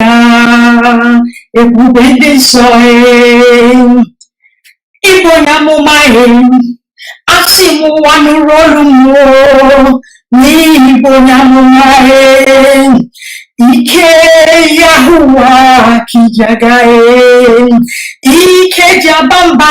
ya ebube ndị nsọ ị bụ onye amụma asị m ụwa nụrụ olu mụ o n'ihi ị bụ onye amụma ike Yahuwa k'i ji aga ike ji aba mba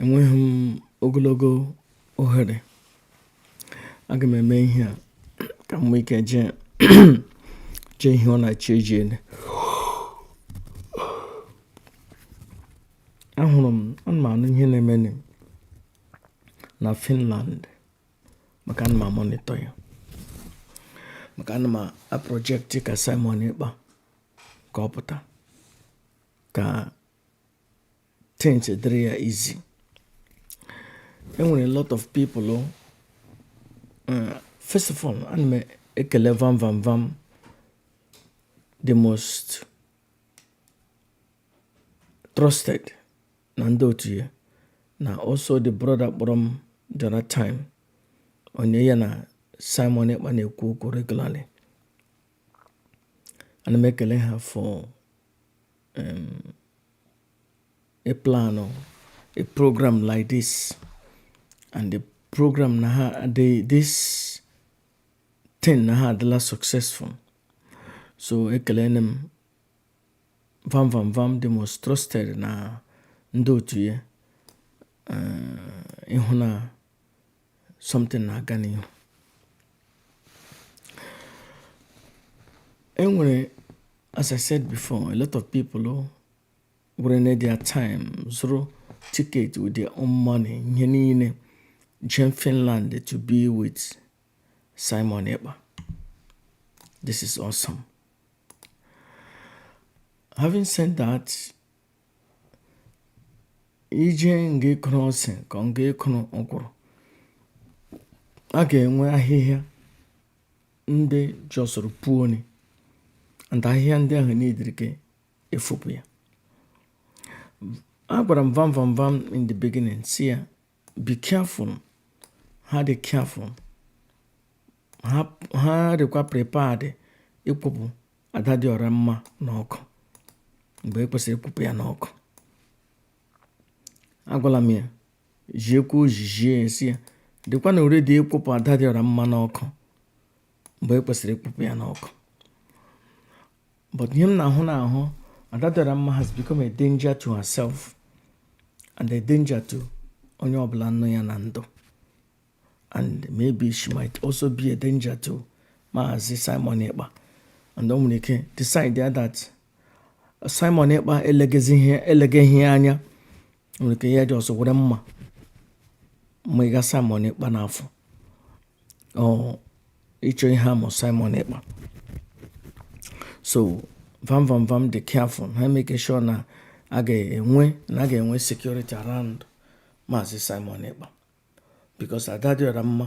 enweghị m ogologo ohere aga m eme ihe a ka m nwee ike jee ihe ọ na-achọ eji ele ahụrụ m ana m anụ ihe na-eme na Finland maka ana m amonitọ ya maka ana m aprojekti ka Simon Ekpa ka ọ pụta ka things dịrị ya easy enwere a lot of people oh, uh, first of all ana m ekele vam vam vam the most trusted na ndị otu ya na also the brother kpọrọ m the other time onye ya na Simon Ekpa na-ekwu okwu regularly ana m ekele ha for um a plan or a program like this and the program na ha this thing na ha adịla successful so ekelene m vam vam vam the most trusted na ndị otu ya uh, ịhụ na something na-aga n'ihu enwere as I said before a lot of people were na their time zụrụ ticket with their own money ihe niile jem Finland to be with Simon Ekpa this is awesome having said that i jee nga ị kụrụ ose ka nga ị kụrụ ọkwụrụ a ga-enwe ahịhịa ndị jọsụrụ puoni and ahịhịa ndị ahụ niile ka e fopụ ya agwara m vam vam vam in the beginning sị ya be careful ha dị careful ha dịkwa prepared ikupu ada dị ọra mma n'ọkụ mgbe e kwesịrị ikupu ya n'ọkụ agwala m ya jiekwa ojijie sị ya dịkwanụ ready ikupu ada dị ọra mma n'ọkụ mgbe e kwesịrị ikupu ya n'ọkụ but ihe m na-ahụ na-ahụ Ada Dịọra Mma has become a danger to herself and a danger to onye ọbụla nọ ya na ndụ and maybe she might also be a danger to Maazị Simon Ekpa and o nwere ike decide that Simon Ekpa elegeghị ya anya nwere ike ya dị ọzọ were mma mịga Simon Ekpa n'afọ or ịchọ ihe mee Simon Ekpa so vam vam vam dị careful ha make sure na a ga-enwe na a ga-enwe security around maazị Simon Ekpa because ada dịọra mma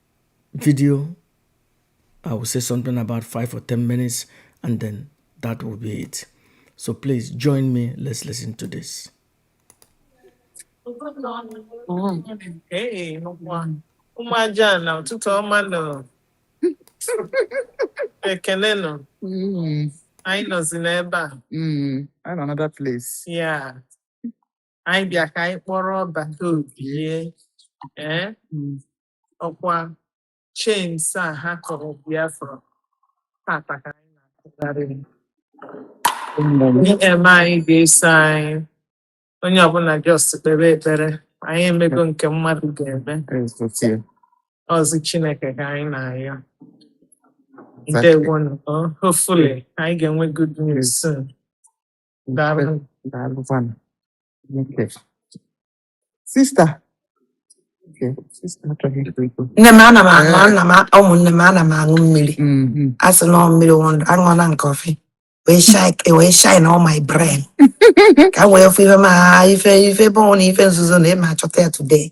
video. I will say something about five or 10 minutes, and then that will be it. So please join me. Let's listen to this. Hey, one. Umajana, ụtụtụ ọma nọ. Ekene nọ. Anyị nọzi n'ebe a. Mm, I'm another place. Yeah. anyị bịa ka anyị kpọrọ bata obie ee ọkwa chains a ha kọrọ Biafra tata ka anyị na-akụgharị ihe eme anyị ga-eso anyị onye ọbụla just kpere ekpere anyị emego nke mmadụ ga-eme ọzi Chineke ka anyị na-ayọ ndewonu hopefully anyị ga-enwe good news soon Daalụ, daalụ kwanụ. Okay. Sista. Okay, sista achọghị ikwu ikwu. nne m ana m aṅụ Ee. ana m a- ụmụnne m ana m aṅụ mmiri Mhm. a sị na ọ mmiri wụ ndụ aṅụọla m kọfị wee shine wee shine all my brain ka m wee fụ ife ma ife ife bọọ na ife nzuzo na ị ma achọta ya today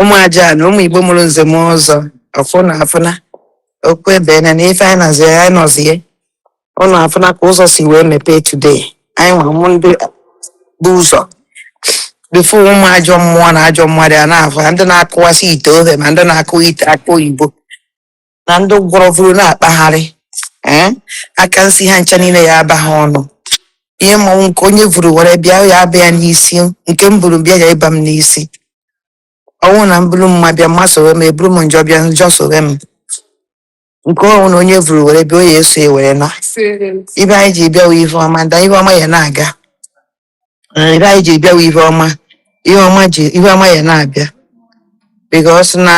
ụmụ aja na ụmụ igbo mụrụ nze na ọzọ ọfụ ụnụ afụna okwu ebe na na ife anyị nọzie anyị nọzie ụnụ afụna ka ụzọ si wee mepee today anyị nwa bụ ndị bu ụzọ before ụmụ ajọ mmụọ na ajọ mmadụ a na-afụ ha ndị na-akụwasị ite ofe ma ndị na-akụ ite akụ oyibo na ndị gwọrọ vuru na-akpagharị ee aka nsi ha ncha niile ya aba ha ọnụ ihe m ma wụ nke onye vuru were bịa ya aba ya n'isi nke m buru bịa ya aba m n'isi ọ wụ na m buru mma bịa mma sowe m eburu m njọ bịa njọ sowe m nke ọwụna onye vuru were bịa o ya eso ya were na ihe anyị ji bịa wụ ihe ọma nda ihe ọma ya na-aga na ihe anyị ji bịa wụ ihe ọma ihe ọma ji ihe ọma ya na-abịa because na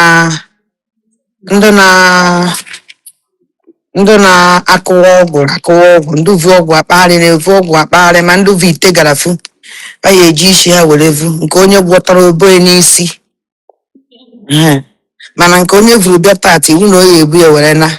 ndị na ndị na-akụwa ọgwụ akụwa ọgwụ ndị vu ọgwụ akpagharị na-evu ọgwụ akpagharị ma ndị vu ite gara fu ha ya eji isi ha were vu nke onye gwọtara o bo ya n'isi Ehe. mana nke onye vuru bịa tata iwu na o ya ebu ya were na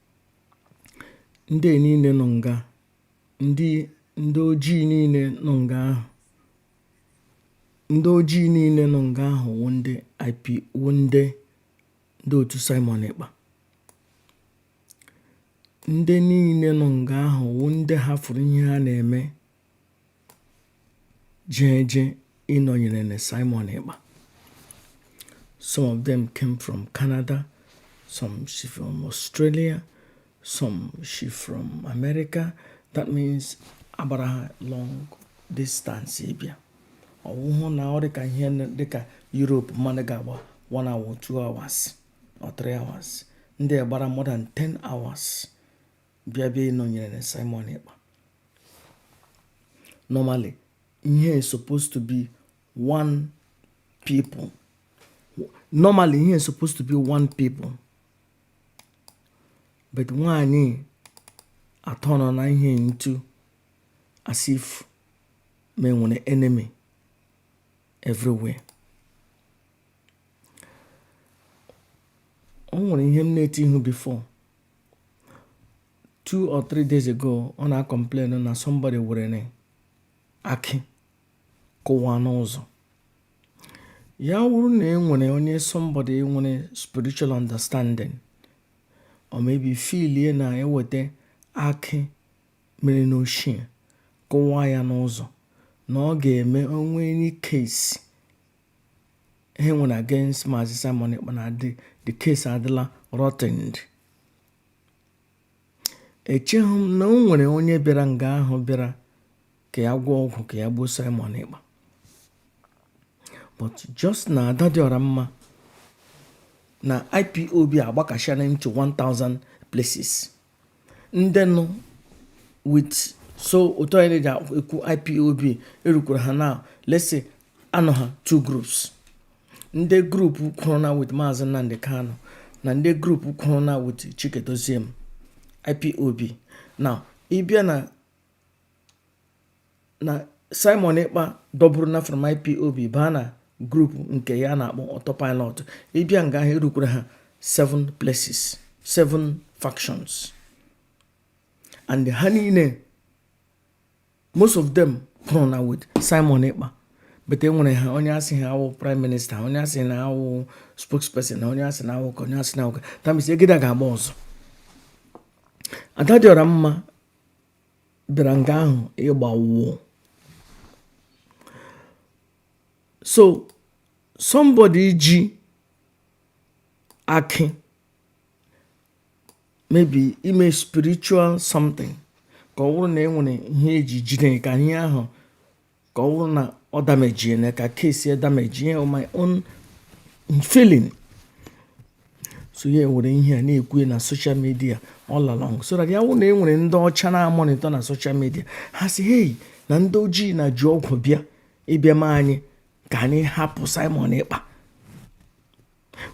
ndị niile nọ nga ndị ndị ojii niile nọ nga ahụ ndị ojii niile nọ nga ahụ wụ ndị IP wụ ndị ndị otu Simon Ekpa ndị niile nọ nga ahụ wụ ndị hafụrụ ihe ha na-eme jee jee ịnọnyere na Simon Ekpa some of them came from Canada some shi from Australia some shi from America that means agbara ha long distance ịbịa ọ wụhụ na ọ dịka ihe dịka Europe mmadụ ga-agba one hour two hours or three hours ndị gbara more than 10 hours bịa bịa ịnọnyere na Simon Ekpa normally ihe is supposed to be one people normally ihe is supposed to be one people but nwaanyị aturnuona ihe into as if me nwere enemy everywhere o nwere ihe m na-eti ihu before two or three days ago ọ na-acomplain na somebody were akị kụwa n'ụzọ ya wụrụ na e nwere onye somebody nwere spiritual understanding or maybe feelie na e weta akị mere n'oshie kụwa ya n'ụzọ na ọ ga-eme o nwee any case ihe nwere against Maazị Simon Ekpa na the the case adịla rottened echeghị m na o nwere onye bịara nga ahụ bịara ka ya gwọọ ọgwụ ka ya gbuo Simon Ekpa but just na ada dị ọra mma na IPOB agbakashana into 1000 places ndị nọ with so otu anyị na-eji ekwu IPOB erukwara ha na let's say anọ ha two groups ndị group kwụrụ na with Maazị Nnamdi Kanu na ndị group kwụrụ na with Chika Edoziem IPOB now ị bịa na na Simon Ekpa dọburu na from IPOB baa na group nke ya na-akpọ autopilot ị bịa nga ahụ erukwara ha seven places seven factions and ha niile most of them kwụrụ na with Simon Ekpa but e nwere ha onye asị ha awụ prime minister onye asị na awụ spokesperson na onye asị na awụ onye asị na awụ that means egide ga-agba ọzọ ada dị ọra mma bịara nga ahụ ịgba wụọ so somebody ji akị maybe ime spiritual something ka ọ bụrụ na e nwere ihe e ji jide ka ihe ahụ ka ọ bụrụ na ọ damage na ka case ya damage on my own feeling so ya were ihe a na-ekwu na social media all along so that ya wụrụ na e nwere ndị ọcha na-amonitor na social media ha sị hey na ndị ojii na ji ọgwụ bịa ịbịa ma anyị ka anyị hapụ Simon Ekpa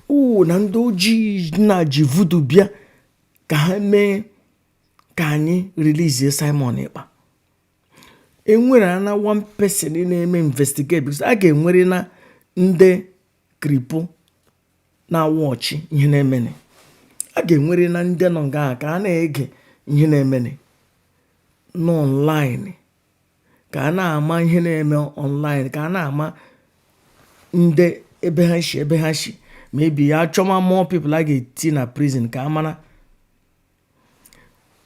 oo na ndị ojii na ji voodoo bịa ka ha mee ka anyị release Simon Ekpa enwere na one person na-eme investigate because a ga-enwere na ndị Kripo na-awatch ihe na-emene a ga-enwere na ndị nọ nga ka a na-ege ihe na-emene n'online ka a na-ama ihe na-eme online ka a na-ama ndị ebe ha shi ebe ha shi maybe ya chọma more people a ga-eti na prison ka a mara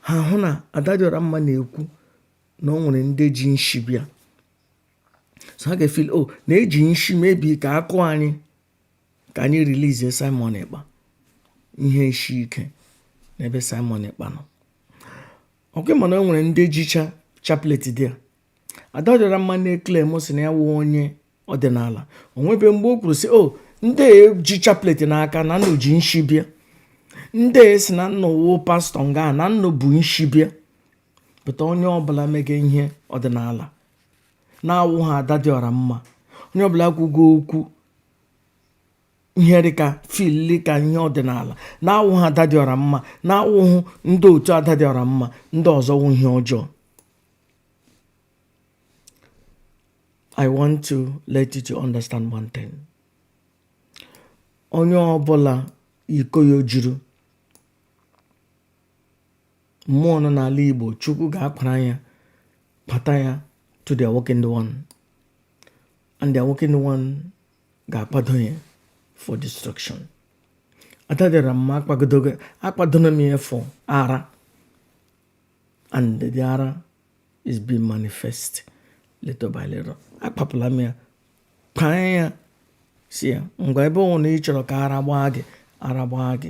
ha hụ na Adadịọramma na-ekwu na o nwere ndị ji nshi bịa so ha ga-efeel o oh, na e ji nshi maybe ka a kụọ anyị ka anyị release Simon Ekpa ihe isi ike n'ebe Simon Ekpa nọ ọkwa ịma na o nwere ndị jicha chaplet there Adadịọramma na-eclaim sị na ya wụ onye ọdịnala o nwebe mgbe o kwuru sị o oh, ndị ji chaplet n'aka na nnu ji nshi bịa ndị sị na nnu wụ pastor nga na nnu bu nshi bịa but onye ọbụla mege ihe ọdịnala na-awụhụ Adadịọramma onye ọbụla kwuga okwu ihe dịka fili ka ihe ọdịnala na-awụhụ Adadịọramma na-awụhụ ndị otu Adadịọramma ndị ọzọ wụ ihe ọjọọ I want to let you to understand one thing. Onye ọbụla iko ya juru mmụọ nọ n'ala Igbo Chukwu ga-akpara ya pata ya to the awakened one and the awakened one ga-akpado ya for destruction. Adadịọramma akpadona m ya for ara and the ara is being manifest little by little akpapụla m ya paa ya sị ya ngwa ebe ọ wụ na ị chọrọ ka ara gbaa gị ara gbaa gị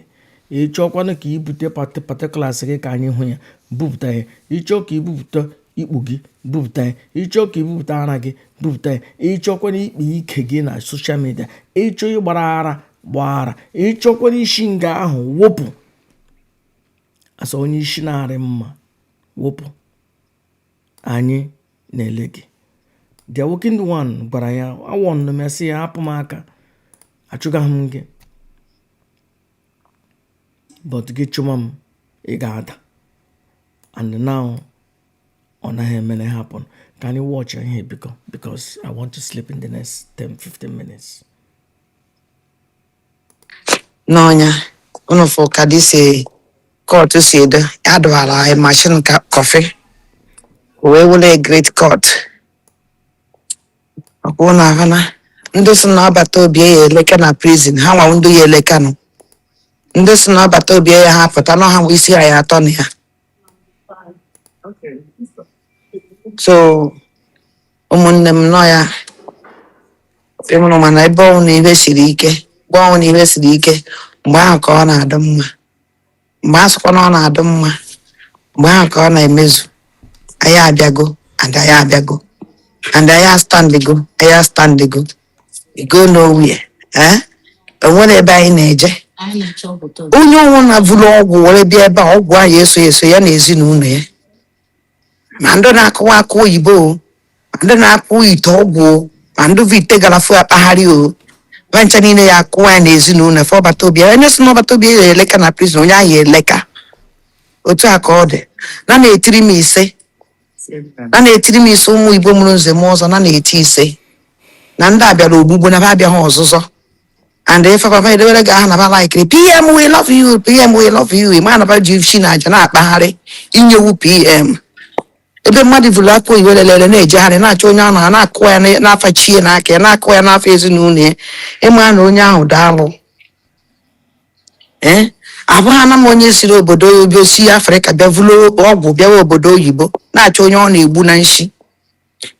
ị chọọkwanụ ka i bute particulars gị ka anyị hụ ya bupụta ya ị chọọ ka i bupụta ikpu gị bupụta ya ị chọọ ka i bupụta ara gị bupụta ya ị chọọkwanụ ikpe ike gị na social media ị chọọ ịgbara ara gbaa ara ị chọọkwanụ isi nga ahụ wụpụ as onye isi na-arị mma wụpụ anyị na-ele gị the awoken one gwara ya a warnụ m ya sị ya hapụ m aka achụgaghị m gị but gị chụma m ị ga-ada and now ọ naghị emere happen ka anyị watch ihe biko because I want to sleep in the next 10-15 minutes n'ọnya unu fụ ka this kọtụ si edo adụwara anyị mashin kọfị wee wụrụ a great court ọkwa unu ahụ na ndị sị na ọbata obie ya eleka na prison ha nwa ndị ya eleka nụ ndị sị na ọbata obie ayaha apụta na ha nwa isi ha ya atọ na ya so ụmụnne m nọ ya ịmụrụ mana ebe ọwụna ihe siri ike mgbe ọwụna ihe siri ike mgbe ahụ ka ọ na-adị mma mgbe a sịkwa na ọ na-adị mma mgbe ahụ ka ọ na-emezu anyị abịago and anyị abịago and anyị astandigo anyị astandigo we go nowhere eh? enwere ebe anyị na-eje onye ọwụna vuru ọgwụ were bịa ebe a ọgwụ ahụ ya eso ya so ya na ezinụlọ ya ma ndị na-akụwa akụ oyibo o, ma ndị na-akụ ite ọgwụ o, ma ndị vu ite garafu akpagharị o ba ncha niile ya akụwa ya na ezinụlọ fa ọbata obie onye sị na ọbata obie ya eleka na prizin onye ahụ ya eleka otu a ka ọ dị na na-etiri m ise na na-etiri m ise ụmụ igbo mụrụ nze na ọzọ na na-eti ise na ndị a bịara ogbugbu na ba abịaghị ọzụzọ and ife papa edewere gị aha na ba laikiri pm we love you pm we love you ịma na ba ji nshi na aja na-akpagharị inyewu pm ebe mmadụ vuru akụ oyibo lelere na-ejegharị na-achọ onye ahụ ha na-akụ ya na- n'afa chi ya n'aka ya na-akụ ya n'afa ezinụlọ ya ịma na onye ahụ daalụ ee abụghị na m onye siri obodo oyibo si afrịka bịa vuru ọgwụ bịawa obodo oyibo na-achọ onye ọ na-egbu na nshi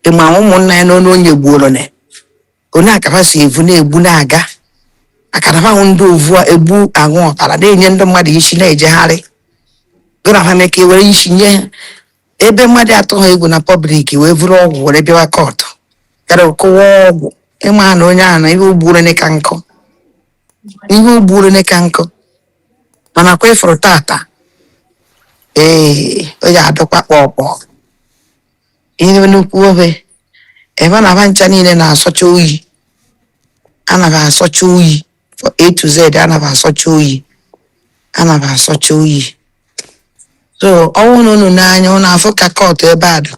ịma ụmụnna ya na onye onye gbuoro na onye akaba si evu na-egbu na-aga akaraba ahụ ndị ovu a egbu aṅụ ọbara na-enye ndị mmadụ nshi na-ejegharị gụrahame ka e were nshi nye ha ebe mmadụ atụha egwu na pọblik wee vuru ọgwụ were bịawa kọtụ gara kụwa ọgwụ ịma na onye ahụ na ihe o gburu ka nkụ ihe o gburu ka nkụ mana kwa ịfụrụ tata ee o ji adọkwa kpọkpọ Ihe nnukwu obe ebe na ba ncha niile na-asọcha oyi ana ba asọcha oyi for A to Z ana ba asọcha oyi ana ba asọcha oyi so ọ wụ na unu n'anya unu afụ ka kọtụ ebe a dị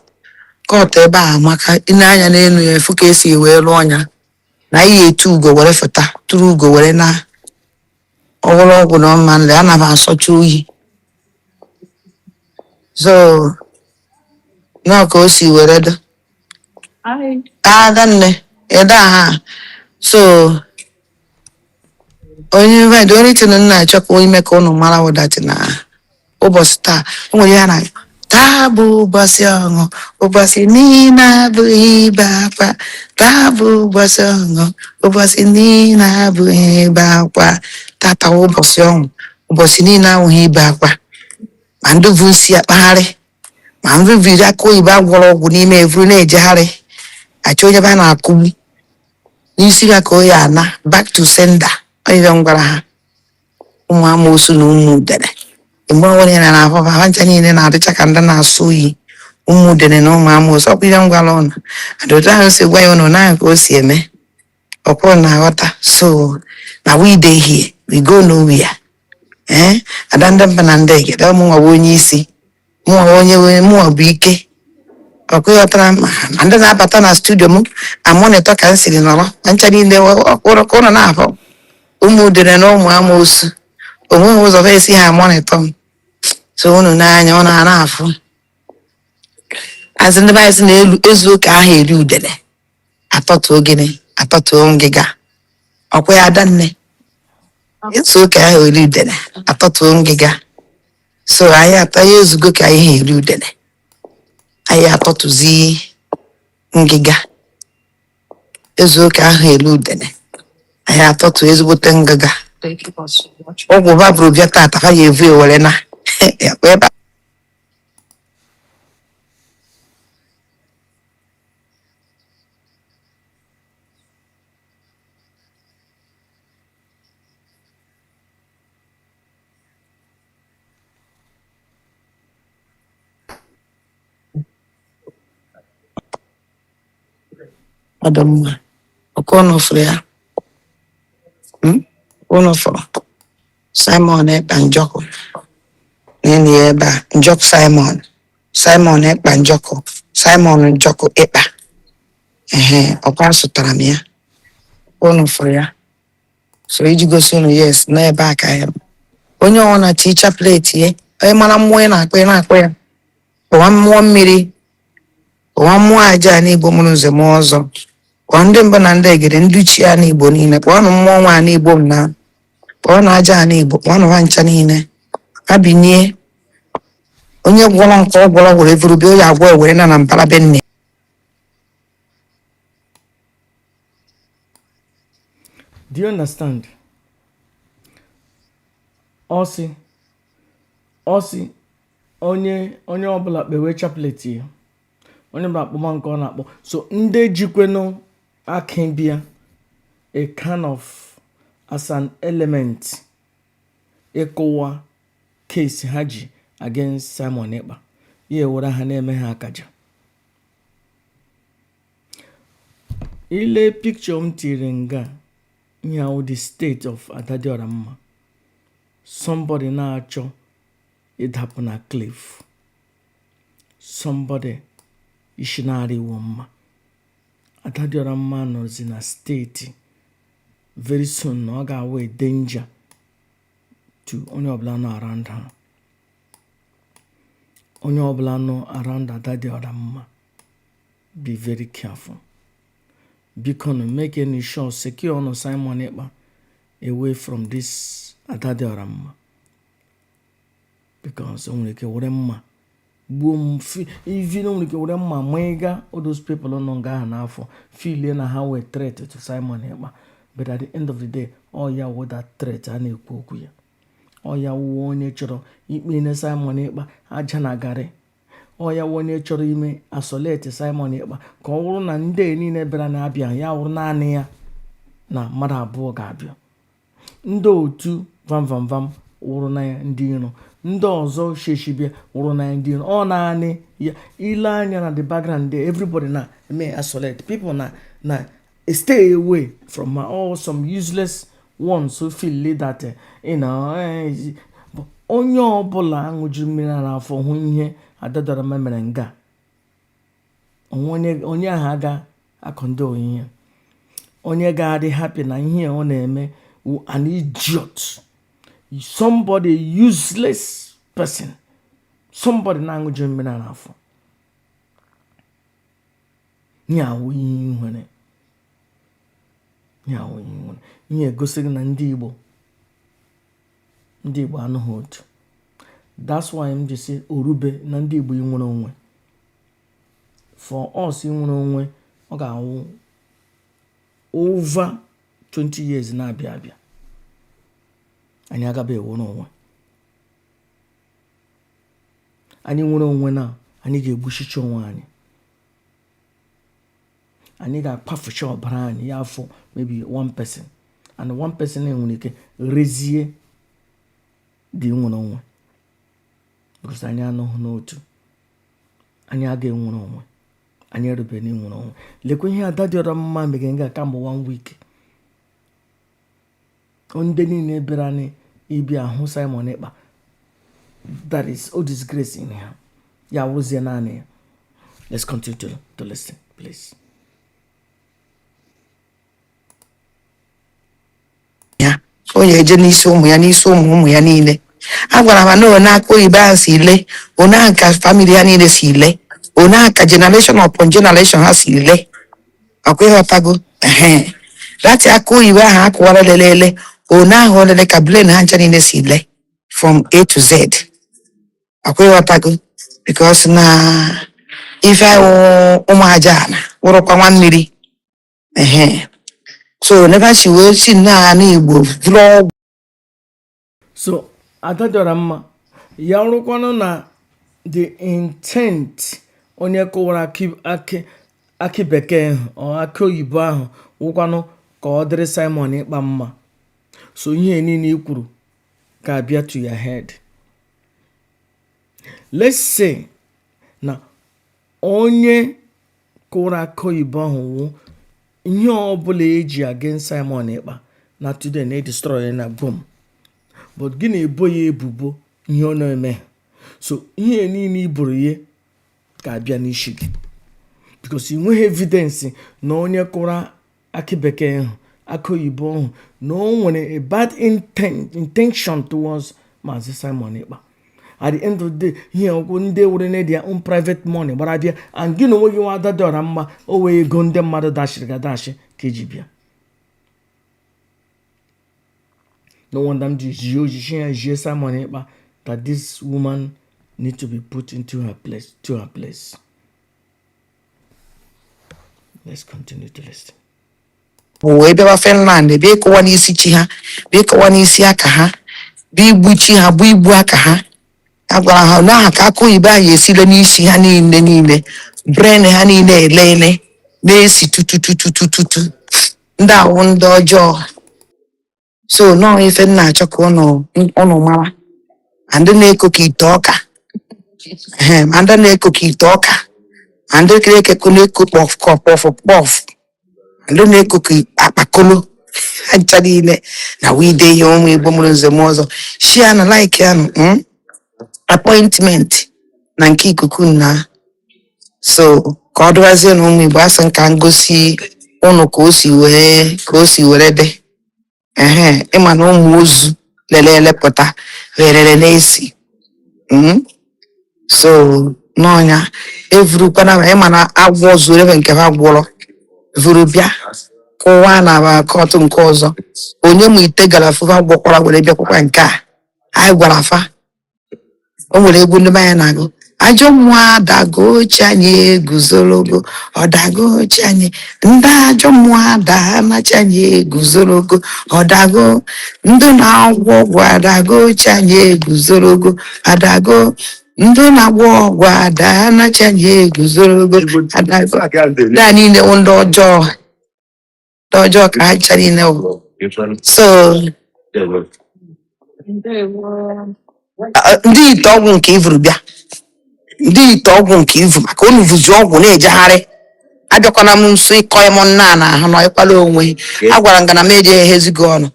kọtụ ebe a amaka i nee anya n'elu ya ị fụ ka esi wee rụọ ya na ihe etu ugo were fụta tụrụ ugo were na ọ gwọrọ ọgwụ na ọ ma ndị anaghị asọcha oyi so na ọ ka o si were dị adanne ịda ha so onye the only thing na-achọkwa ime ka ụnụ mara wụ that na ụbọchị taa ewere ya na taa bụ ụbọchị ọṅụ ụbọchị niile abụghị ibe akwa taa bụ ụbọchị ọṅụ ụbọchị niile abụghị ibe akwa tata wụ ụbọchị ọṅụ ụbọchị niile abụghị ibe akwa ma ndị vu nsị akpagharị ma ndị vuru akị oyibo agwọrọ ọgwụ n'ime evuru na-ejegharị achọ onye ba na-akụgbu n'isi ha ka ọ ya-ana back to sender ọ ya m gwara ha ụmụ amoosu na ụmụ udene mgbe ọbụla ị na-ahụ ha ha ncha niile na-adịcha ka ndị na-asọ oyi ụmụ udene na ụmụ amoosu ọkwa ihe m gwara ụnụ adịotu ahụ si gwa ya ụnụ ma ka o si eme ọkwa ụnụ na-aghọta so na we dey here we go nowhere ee ada ndị mbụ na ndị egede mụnwa bụ onye isi mụnwa onye wee mụnwa bụ ike ọkwa ịghọtara ma ha ma ndị na-abata na studio m amonitọ ka m siri nọrọ ha ncha niile ọkwa ụnụ na-afụ ụmụ udere na ụmụ amoosu onweghị ụzọ ha esi ha amonitọ m so unu n'anya ụnụ a na-afụzị ndị be anyị sị na ezuo ka aha eri udele atọtuo gịnị atọtuo ngịga ọkwa ya adanne ezuo ka aha eri udele atọtuo ngịga so anyị taa anyị ezugo ka anyị ha eri udene anyị atọtuzie ngịga ezuo ka aha eri udene anyị atọtuo ezigbote ngịga ọgwụ ba buru bịa tata ha ya-evu e were naa ya kpa ebe a. ọ dị mma ọkwa ụnụ fụrụ ya Mm? ụnụ fụrụ simon ekpa njọkụ neenụ ya ebe a njọkụ simon simon ekpa njọkụ simon njọkụ ekpa ehe ọkwa asụtara m ya ọkwa ụnụ fụrụ ya so iji gosi unu yes na ebe a ka ya bụ. onye ọwụna ticha plate ya onye mara mmụọ ị na-akpọ ị na-akpọ ya kpọwa mmụọ mmiri kpọwa mmụọ aja ana igbo mụrụ nze mụọ ọzọ kpọọ ndị mbụ na ndị egede ndị ichie ana igbo niile kpọọnụ mmụọ nwe ana igbo m na kpọọnụ aja ana igbo kpọọnụ ha ncha niile ha binie onye gwọrọ nke ọ gwọrọ were vuru bịa onye agwọ ewere naa na mbara be nne Do you understand? Ọ sị ọ sị onye onye ọbụla kpewe chaplet ya onye ọbụla kpọma nke ọ na-akpọ so ndị jikwenụ aka bịa a kind of as an element ịkụwa case ha ji against Simon Ekpa ya ewere ha na-eme ha akaja i lee picture m tiri nga ihe a wụ the state of Adadiora mma somebody na-achọ ịdapụ na cliff somebody isi na-arịwo mma Adadiora mma nọzi na state very soon na ọ ga-awụ danger to onye ọbụla nọ around her onye ọbụla nọ around Adadiora mma be very careful bikonụ makenụ sure secure ọnụ Simon Ekpa away from this Adadiora mma because o nwere ike were mma gbuo m even o nwere ike were mma ma ịga all those people nọ nga ahụ n'afọ feel na ha wụ threat to Simon Ekpa but at the end of the day ọ ya wụ that threat a na-ekwu okwu ya ọ ya wụ onye chọrọ ikponye Simon Ekpa aja na garị ọ ya wụ onye chọrọ ime isolate Simon Ekpa ka ọ wụrụ na ndị niile bịara na-abịa ya wụrụ naanị ya na mmadụ abụọ ga-abịa ndị otu vamvamvam wụrụ na ya ndị iro ndị ọzọ sheshi bịa wụrụ na ya ndị iro ọ naanị ya i lee anya na the background there everybody na-eme isolate people na na Stay away from my all some useless ones who feel like that eh, you know eh, onye ọbụla ṅụjuru mmiri ara afọ hụ ihe Adadiora mma mere nga onye ahụ aga acondone ihe onye ga-adị happy na ihe ọ na-eme an idiot somebody useless person somebody na-aṅụjuru mmiri ara afọ ihe a wụ ihe ị nwere ihe ahụ ihe ị nwere ihe egosi gị na ndị Igbo ndị Igbo anọghị otu that's why m ji sị o rube na ndị Igbo inwere onwe for us inwere onwe ọ ga-awụ over 20 years na-abịa abịa anyị agabe inwere onwe anyị nwere onwe na anyị ga-egbuchicha onwe anyị anyị ga-akpafucha ọbara anyị ya afọ maybe one person and one person enwere ike rezie dị nwere onwe because anyị anọghị n'otu anyị aga enwere onwe anyị erube na inwere onwe lekwa ihe ada dị ọra mma meghe nga kamgbe one week ndị niile bịara n'ịbịa hụ Simon Ekpa that is o disgracing ha ya wụrụzie naanị ya let's continue to, to listen please ya o ya eje n'isi ụmụ ya n'isi ụmụ ụmụ ya niile agwara m ha na one akụ oyibo ahụ si ile one ka family ya niile si ile one ka generation upon generation ha si ile akwa ịghọtago ehe that akụ oyibo ahụ a kụwara lelele one ahụ o lele ka brain ha ncha niile si le from a to z akwa ịghọtago because na ife ahụ ụmụ aja ana wụrụkwa nwa mmiri ehe so n'ebe a si wee si nna ha n'igbo bụrụ ọgwụ so ada dị ọra mma ya rụkwanụ na the intent onye kụwara akị bekee ahụ or akị oyibo ahụ wụkwanụ ka ọ dịrị Simon Ekpa mma so ihe niile i kwuru ga-abịa to your head let's say na onye kụwara akị oyibo ahụ wụ ihe ọbụla eji against Simon Ekpa na today na edestroy na bom but gị na-ebo ya ebubo ihe ọ na-emeghị so ihe niile iburu ya ga-abịa n'isi gị because ị nweghị evidence na onye kụrụ akị bekee ahụ akị oyibo ahụ na o nwere a bad intention towards maazị Simon Ekpa at the end of the day ihe a wụ ndị were na their own private money gbara bịa and gị na onwe gị nwa ada dị ọra mma ọ wụ ego ndị mmadụ dashiri gị adashi ka i ji bịa no wonder m ji jie ojiji ya jie Simon Ekpa that this woman need to be put into her place to her place Let's continue to listen. wee bịawa Finland bịa ịkụwa n'isi chi ha bịa ịkụwa n'isi aka ha bịa igbu chi ha bụ igbu aka ha a gwara ha na ahụ ka akụ oyibo anyị esile n'isi ha niile niile brain ha niile elele na-esi tutututututu ndị a wụ ndị ọjọọ so now ife m na-achọ ka ụnụ ụnụ mara ma ndị na-eko ka ite ọka ehe, ma ndị na-eko ka ite ọka ma ndị kere ekeko na-eko kpọf kọf kpọf kpọf ma ndị na-eko ka akpakolo ha ncha niile na wide ihe ụmụ igbo mụrụ nze na ọzọ shia na like an mm? appointment na nke ikuku na so ka ọ dịwazie na ụmụ igbo asị m ka m gosi ụnụ ka o si wee ka o si were dị ehe ịma na ụmụ ozu lere ele pụta rerere na-esi Mm. so n'ọnya evurukwana ma ịma na agwọ zuo ebe nke ha gwọrọ vuru bịa kụwaa na ba court nke ọzọ onye ma ite gara fụ fa gwọkwara were bịakwakwa nke a anyị gwara fa o nwere egwu ndị be anyị na-agụ ajọ mmụọ adago chi anyị eguzorogo ọ dago chi anyị ndị ajọ mmụọ adaa na chi anyị eguzorogo ọ dago ndị na-agwọ ọgwụ adago chi anyị eguzorogo adago ndị na-agwọ ọgwụ adaa na chi anyị eguzorogo adago ndị a niile wụ ndị ọjọọ na ọjọọ ka ha ncha niile wụ so a- ndị ite ọgwụ nke i vuru bịa ndị ite ọgwụ nke i vu maka unu vuzi ọgwụ na-ejegharị abịakwana m nso ịkọ ya m nna na ahụ na ịkwala onwe agwara m gị na m eje ehezi gị ọnụ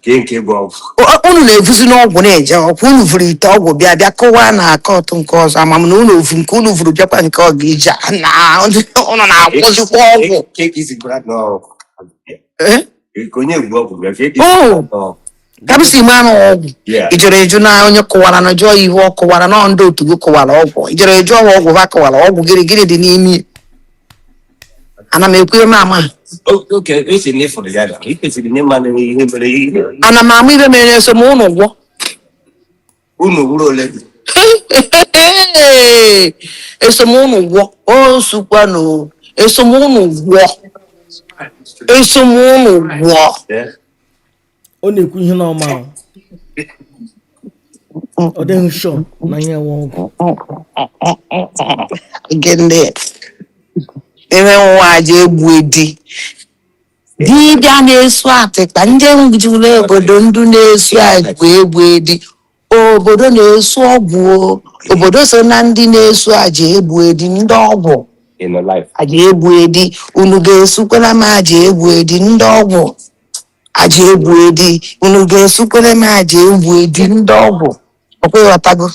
O- unu na-evuzi ọgwụ na-eje ọkwa unu vuru ite ọgwụ bịa bịa kụwaa na court nke ọzọ ama m na unu vu nke unu vuru bịakwa nke ọ ga-eji na unu na-akwụzikwa ọgwụ Eh? Oh! kabisi ime anụ ọgwụ ijere eju na onye kụwara na jụọ ihe ọ kụwara na ndị otu gị kụwara ọgwụ ijere eju ọwa ọgwụ ha kụwara ọgwụ gịrị gịrị dị n'ime ana m ekwu eme ama ana m ama ihe mere eso m ụnụ gwọ unu wuru ole gị eso m ụnụ gwọ o sukwanụ eso m ụnụ gwọ eso m ụnụ gwọ ọ na-ekwu ihe n'ọma ahụ. ọ dịghị sure na ya nwe ọgwụ gịnị ime wụ aja egbu edi dibịa na-esu atịkpa ndị juru obodo ndị na-esu aja egbu edi obodo na-esu ọgwụ o. obodo so na ndị na-esu aja egbu edi ndị ọgwụ aja egbu edi unu ga-esukwere m aja egbu edi ndị ọgwụ aja egbu edi unu ga-esukwere m aja egbu edi ndị ọgwụ ọkwa ị ghọtago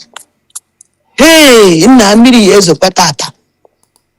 hei nna mmiri ya ezokwa tata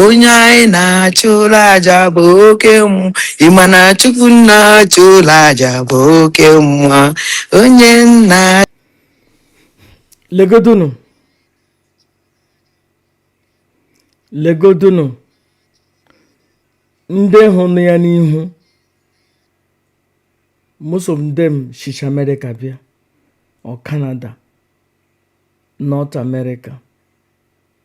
onye anyị na-achụlụ aja bụ oke mmụọ ị ma na chukwu na-achụlụ aja bụ oke mmụọ onye nna legodunu legodunu ndị ahụ nọ ya n'ihu most of them shicha America bịa or Canada North America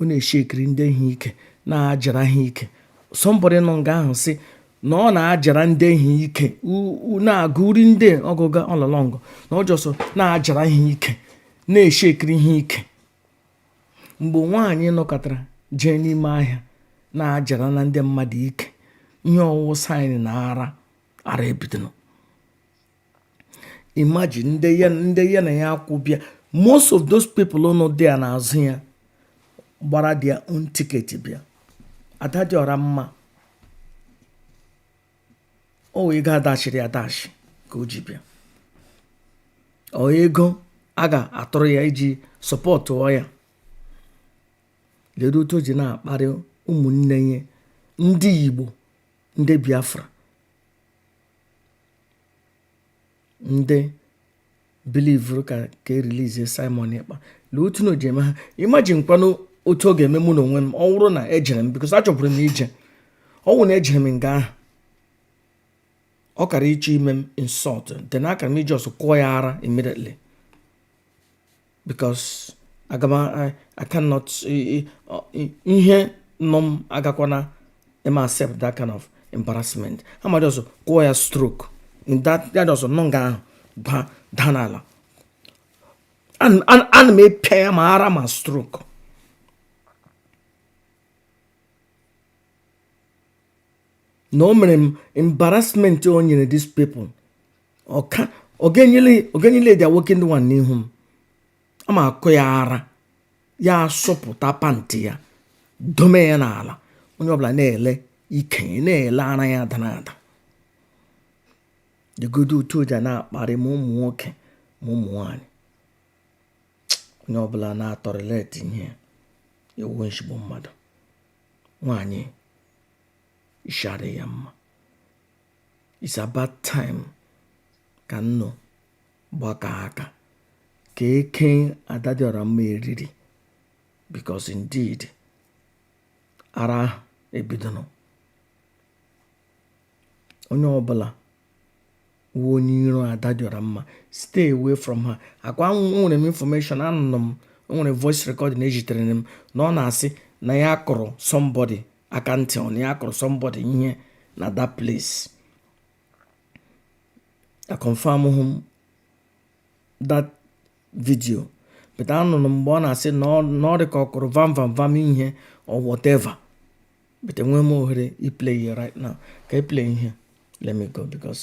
ọ na-eshekiri ndị ahụ ike na-ajara ha ike somebody nọ nga ahụ sị na ọ na-ajara ndị ahụ ike na-agụ uri ndị ọgụga ọlọlọngụ na ọ just na-ajara ha ike na-eshekiri ha ike mgbe nwaanyị nọkatara jee n'ime ahịa na-ajara na ndị mmadụ ike ihe ọ wụ wụ sign na ara ara ebidonụ imagine ndị ya ndị ya na ya kwụ bịa most of those people nọ there n'azụ ya gbara their own ticket bịa ada dị ọra mma ọ wụ ego adachiri adachi ka o ji bịa ọ ego a ga-atụrụ ya iji support ya ledo otu o ji na-akparị ụmụnne ya ndị Igbo ndị Biafra ndị believuru ka ka e release Simon Ekpa lee otu na o ji eme ha imagine kwanụ otu ọ ga-eme mụ na onwe m ọ wụrụ na ejere m because achọburu m ije ọ wụ na ejere m nga ahụ ọ kara ịchọ ime m insult then akara m iji ọsọ kụọ ya ara immediately because aga m I, I cannot ihe nọ m agakwana m accept that kind of embarrassment ha ma ọsọ kụọ ya stroke in that ya ọsọ nọ nga ahụ daa n'ala ana m epịa ya ma ara ma stroke na o mere m embarrassment o nyere these people ọka ọ ga-enyele dị awoke ndị nwanne n'ihu m a ma akụ ya ara ya asụpụta pant ya dome ya n'ala onye ọbụla na-ele ike ya na-ele ara ya ada n'ada legodo otu o ji na-akparị ma ụmụ nwoke ma ụmụ nwanyị onye ọbụla na-atolerate ihe ewu nshigbu mmadụ nwaanyị ishi adị ya mma it's about time ka nnụ gbaka aka ka eke adadịọramma eriri because indeed ara ebidonụ onye ọbụla wụ onye iro adadịọramma stay away from her ọkwa nwere m information anụ m o nwere voice recording ezitere m na ọ na-asị na ya kụrụ somebody aka ntị ọ na ya kụrụ somebody ihe na that place aconfirmhụ m that video but anụrụ m mgbe ọ na-asị na ọ dị ka ọ kụrụ vam vam vam ihe or whatever but enweghị m ohere iplay ya right now ka iplay ihe let me go because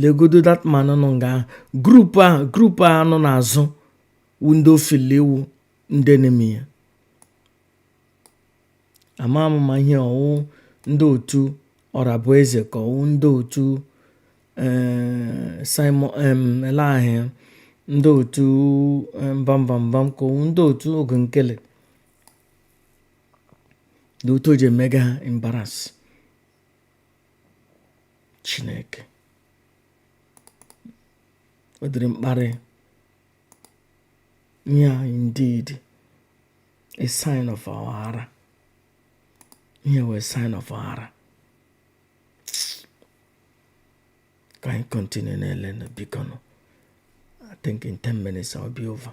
legodo that man nọ nga ahụ group a nọ n'azụ wu ndị o feel wu ndị enemy ya ama m ma ihe ọwụ ndị otu ọrabụeze ka ọwụ ndị otu eh, simon eleahị ndị otu mbambambam ka ọwụ ndị otu oge nkere ndị otu o ji emega ha embarrass chineke ọ dịrị mkparị nye anyị indeed a sign of our ara ihe wụ a sign of our ara ka anyị continue na-ele na bikonụ I think in 10 minutes I'll be over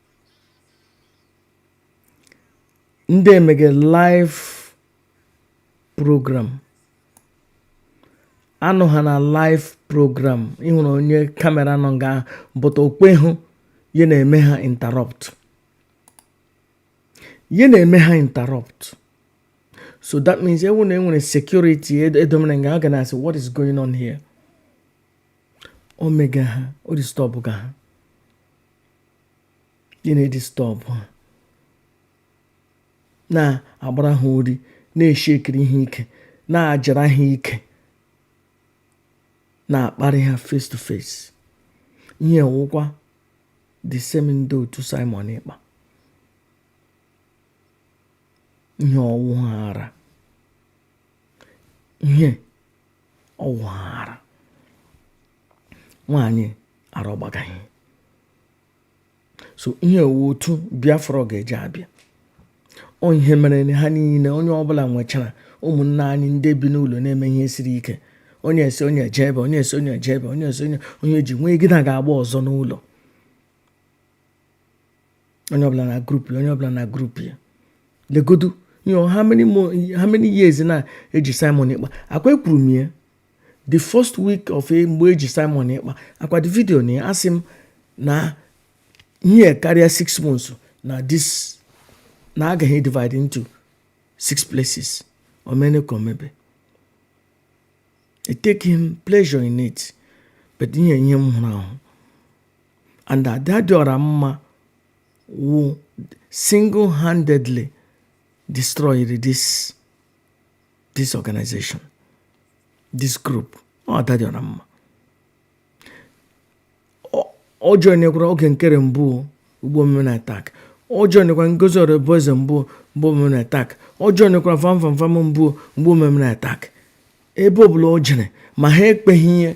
ndị emege live program anọ ha na live program ịhụrụ onye camera nọ nga ahụ but okwe hụ ya na-eme ha interrupt ya na-eme ha interrupt so that means ọwụ na enwere security edomere nga ha ga na-asị what is going on here o mega ha o disturb ga ha ya na-edisturb ha na-agbara ha uri na-eshakiri ha ike na-ajara ha ike na-akparị ha face to face ihe wụkwa the same ndị otu Simon Ekpa ihe ọwụ ha ara ihe ọwụ ha ara nwaanyị ara ọgbagaghị so ihe ọwụ otu biafra ọ ga-eji abịa ọ ihe mere ha niile onye ọbụla nwechara ụmụnne anyị ndị bi n'ụlọ na-eme ihe siri ike onye esi onye eje ebe onye esi onye eje ebe onye esi onye onye ji nwee gị na ga-agba ọzọ n'ụlọ onye ọbụla na group ya onye ọbụla na group ya legodu you know how many more how many years na eji Simon Ekpa akwa ekwuru m ya the first week of e, mgbe eji Simon Ekpa akwa the video na ya asị m na ihe karịa six months na this na agaghị divide into six places o mene ka o mebe etakeghị m pleasure in it but ihe ihe m hụrụ ahụ and ada dị ọra mma wụ single handedly destroyed this this organization this group ọ ada dị ọra mma ọ joinekwara Oge Nkere mbụ mgbe o memere attack ọ joinekwara Ngozi Orabueze mbụ mgbe o memere attack ọ joinekwara Van Van Van mbụ mgbe o memere attack ebe ọbụla o jere ma ha ekweghị ya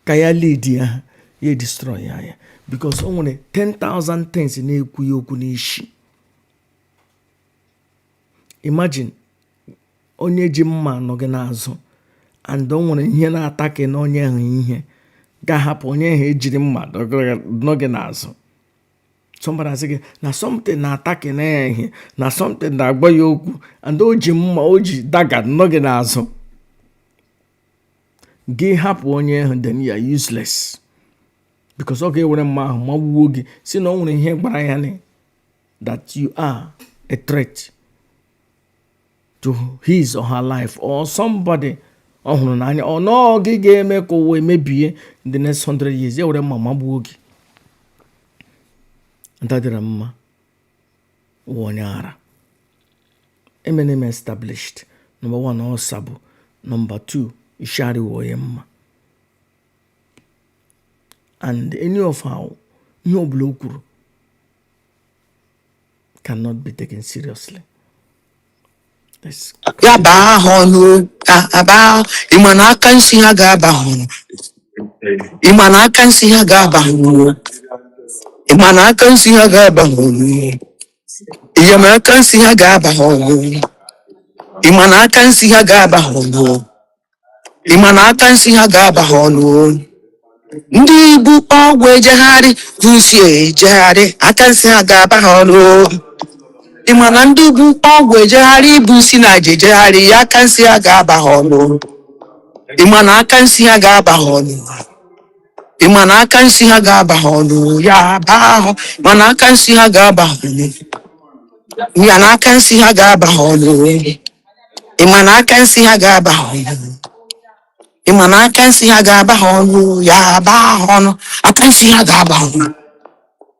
ka ya lead ya ha ya edestroy ya ya because o nwere 10,000 things na-ekwu ya okwu n'ishi imagine onye ji mma nọ gị n'azụ and o nwere ihe na-attack nụ onye ahụ ị ga-ahapụ onye ahụ ejiri mma nọ gị n'azụ somebody asị gị na something na-attack nụ ya ihe na something na-agwa ya okwu and o ji mma o ji dagger nọ gị n'azụ gị hapụ onye ahụ then you are useless because ọ ga-ewere mma ahụ magbuo gị sị na o nwere ihe gwara ya na that you are a threat to his or her life or somebody ọ hụrụ n'anya or na ọ gị ga-eme ka ụwa mebie in the next 100 years ya were mma magbuo gị Ada dị ọra mma wụ onye ara emene m ya established number 1 ọzọ bụ number 2 ishi arịhụ ya mma and any of our ihe ọbụla o kwuru cannot be taken seriously That's ya baa ha ọnụ a- aba ha- ị ma na aka nsi ha ga-aba ha ọnụ ị ma na aka nsi ha ga-aba ha ọnụ ị ma na aka nsi ha ga-aba ha ọnụ ị ma na aka nsi ha ga-aba ha ọnụ ị ma na aka nsi ha ga-aba ha ọnụ ị ma na aka nsi ha ga-aba ha ọnụ o. ndị bu ọgwụ ejegharị bu nsi ejegharị aka nsi ha ga-aba ha ọnụ o. ị ma na ndị bu ọgwụ ejegharị bu nsi na aja ejegharị ya aka nsi ha ga-aba ha ọnụ o. ị ma na aka nsi ha ga-aba ha ọnụ o. ị ma na aka nsi ha ga-aba ha ọnụ ya baa ha ị ma na aka nsi ha ga-aba ha ọnụ ị ma na aka nsi ha ga-aba ha ọnụ ị ma na aka nsi ha ga-aba ha ọnụ ị ma na aka nsi ha ga-aba ha ọnụ ya baa ha ọnụ aka nsi ha ga-aba ha ọnụ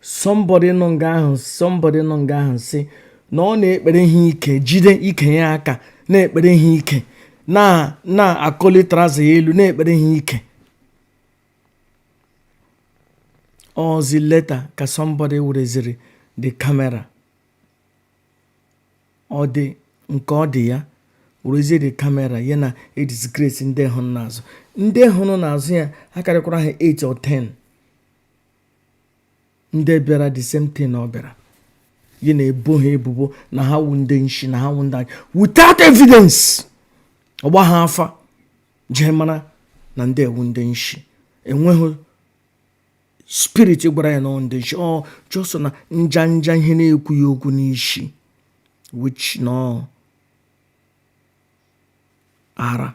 somebody nọ nga ahụ somebody nọ nga ahụ sị na ọ na-ekpere ha ike jide ike ya aka na-ekpere ha ike na na-akọli trouser ya elu na-ekpere ha ike ọ zi later ka somebody wereziri the camera ọ dị nke ọ dị ya werezie the camera ya na-edisgrace ndị hụrụ n'azụ ndị hụrụ n'azụ ya akarịkwara ha 8 or 10 ndị bịara the same thing ọ bịara ya na-ebo ha ebubo na ha wu ndị nshi na ha wu ndị anyị without evidence ọ gbaha afa ji mara na ndị a wu ndị nshi enweghị spirit gwara ya na ọ wu ndị nshi ọ just na nja nja ihe na-ekwu ya okwu n'isi which na ara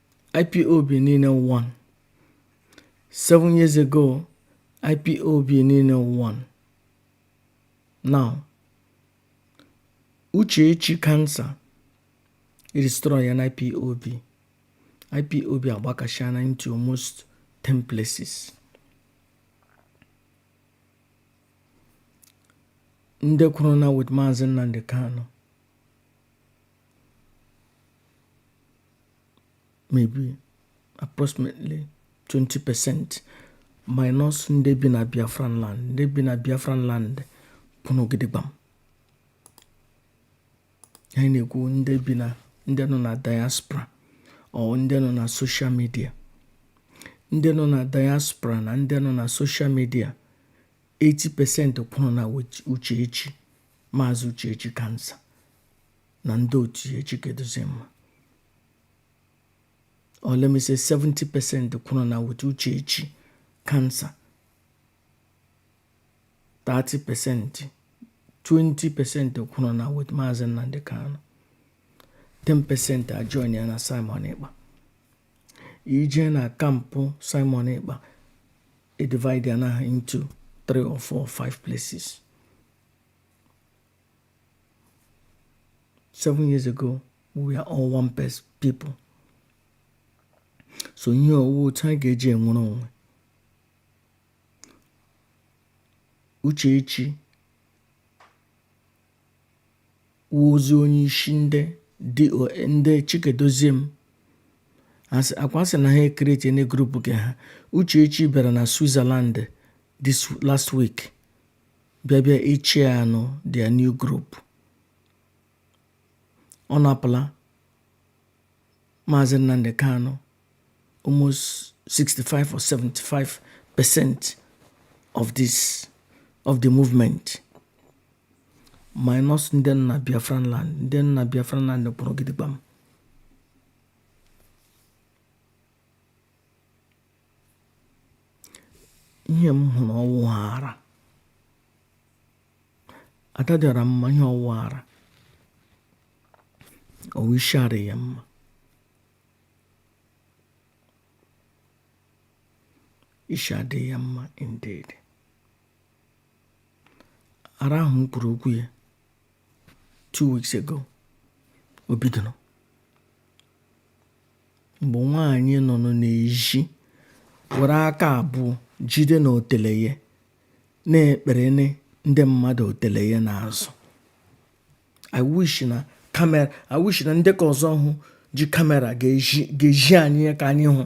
IPOB niile won. Seven years ago, IPOB niile won. Now, Uchechi cancer destroy an IPOB. IPOB agbakashana into almost 10 places. ndị kwuru na with Maazị Nnamdi Kanu maybe approximately 20 percent minus ndị bi na Biafran land ndị bi na Biafran land kwụrụ gidigbam anyị na-ekwu ndị nọ na diaspora or ndị nọ na social media ndị nọ na diaspora na ndị nọ na social media 80% kwụrụ na Uchechi Maazị Uchechi cancer na ndị otu ya Chika Edoziem or let me say 70 percent kwụrụ na with Uchechi cancer 30 percent 20 percent kwụrụ na with Maazị Nnamdi Kanu 10 percent ajoin ya na Simon Ekpa ị jee na camp Simon Ekpa edivide ya na into 3 or 4 or 5 places seven years ago we are all one people so ihe ọ wụ otu anyị ga-eji enwere onwe Uchechi wụzi onye isi ndị ndị Chika Edoziem akwa sị na ha ecreate new group nke ha Uchechi bịara na Switzerland this last week bịa bịa ichie anụ their new group ọ napụla maazị Nnamdi Kanu almost 65 or 75 percent of this of the movement minus ndị nọ na Biafran land ndị nọ na Biafran land kwụrụ gidigbam ihe m hụrụ ọwụ ara Ada dị ọra mma ihe ọwụ ara ọwụ ishi arị ya mma isi adị ya mma indeed ara ahụ m kwuru okwu ya two weeks ago o bidoro mgbe nwaanyị nọ n'ezi were aka abụọ jide na otele ya na-ekpere ndị mmadụ otele ya n'azụ i wish na kamera i wish na ndị ka ọzọ hụ ji kamera ga-ezi anyị ya ka anyị hụ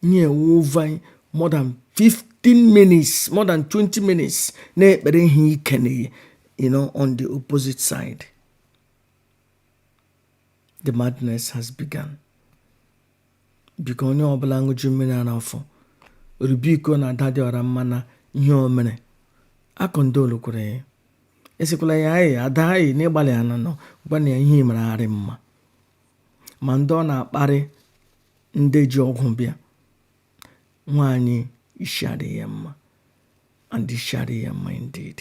nye over more than 15 minutes more than 20 minutes na-ekpere ihe ike na you know on the opposite side the madness has begun biko onye ọbụla ṅụju mmiri a n'afọ rube iko na ada dị ọra mma na ihe o mere akọndolu kwere ya asịkwala ya anyị ada anyị na ị gbalịana no gwanụ ya ihe mere arị mma ma ndị ọ na-akparị ndị ji ọgwụ bịa nwaanyị ishi arị ya mma and ishi arị ya mma indeed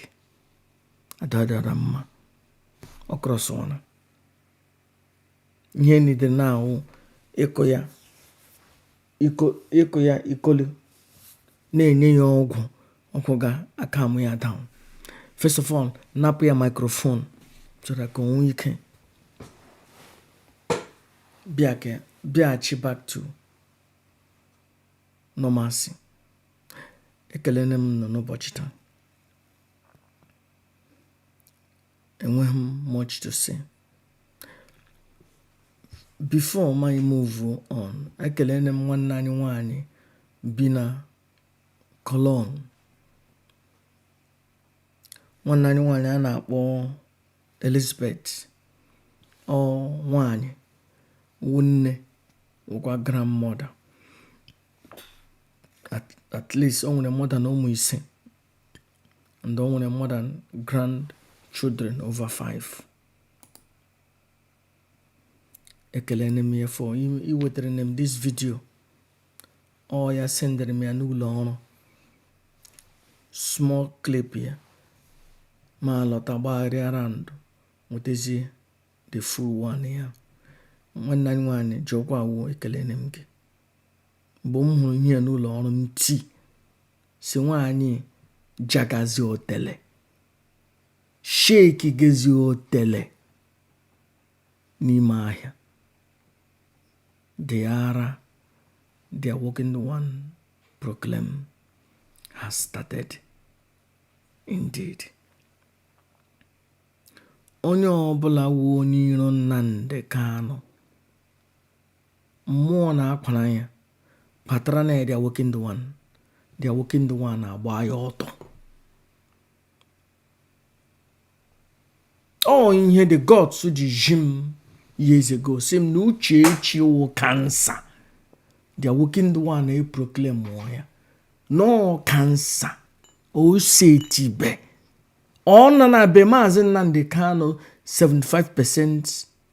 Ada dị ọra mma ọ crossụwana ihe ọ need now wụ ịkụ ya ịkụ ya ikolu na-enye ya ọgwụ ọgwụ ga-acalm ya down first of all napụ ya microphone so that ka o nwee ike bịa ka bịaghachi back to normalcy ekelene m ụnụ n'ụbọchị taa enweghị m much to say before mụ a move on ekelene m nwanne anyị nwanyị bi na Cologne nwanne anyị nwanyị a na-akpọ Elizabeth ọ nwanyị wụ nne wụkwa grandmother at, at least o nwere more than ụmụ ise and o nwere more than grandchildren over five ekelene m ya for iwetere m this video ọ ya sendịrị m ya n'ụlọ ọrụ small clip ya mụ alọta gbagharịa round nwetazie the full one ya nwanne anyị nwaanyị jọkwa o ekelene m gị mgbe m hụrụ ihe ya n'ụlọ ọrụ m tii si nwaanyị jagazi otele shake gazi otele n'ime ahịa the ara the awakened one proclaim has started indeed onye ọbụla wu onye iro nnamdị kanụ mmụọ na-akwara ya kpatara na the awakened one the awakened one na-agba ya ọtọ ọ ihe the gods ji ji m years ago si m na uchechi wụ cancer the awakened one na-eproclaim ya na ọ wụ cancer o setibe ọ nọ na be maazị nnamdị kanụ 75 percent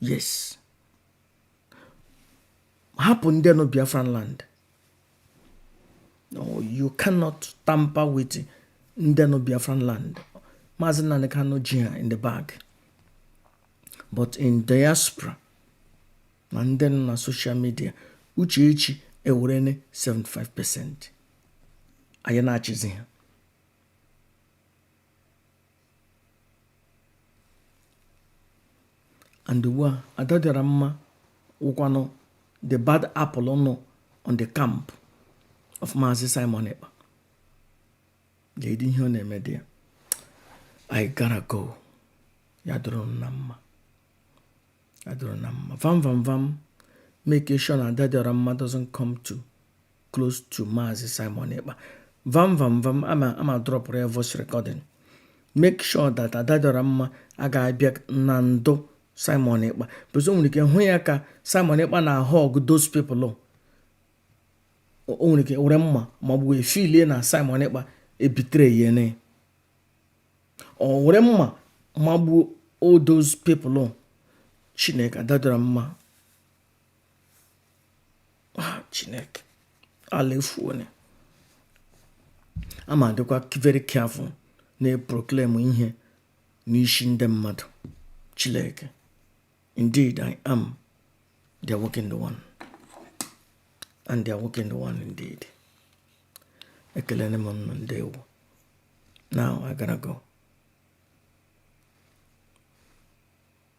yes hapụ ndị nọ biafran land no you cannot tamper with ndị nọ biafran land maazị nnamdị kanu ji ha in the bag but in diaspora na ndị nọ na social media uchechi ewerene 75 percent ọ ya na-achịzi ha and ugbu a Adadịọramma wụkwanụ the bad apple nọ on the camp of Maazị Simon Ekpa Lady ihe ọ na-eme dị ya I gotta go ya dụrụ ụnụ mma ya dụrụ ụnụ mma vam vam vam make sure na Adadịọramma doesn't come too close to Maazị Simon Ekpa vam vam vam a ma adrọpụrụ ya voice recording make sure that Adadịọramma a ga-abịa na ndụ Simon Ekpa because o nwere ike hụ ya ka Simon Ekpa na-ahug those people o nwere ike were mma magbuo wee feelie na Simon Ekpa ebetrayene ọ were mma magbuo all those people Chineke Adadịọramma ah, chineke ala efuone a ma adịkwa very careful na-eproclaim ihe n'ishi ndị mmadụ chineke indeed i am the awakened one and the awakened one indeed ekelene m ụnụ ndeewo now i gotta go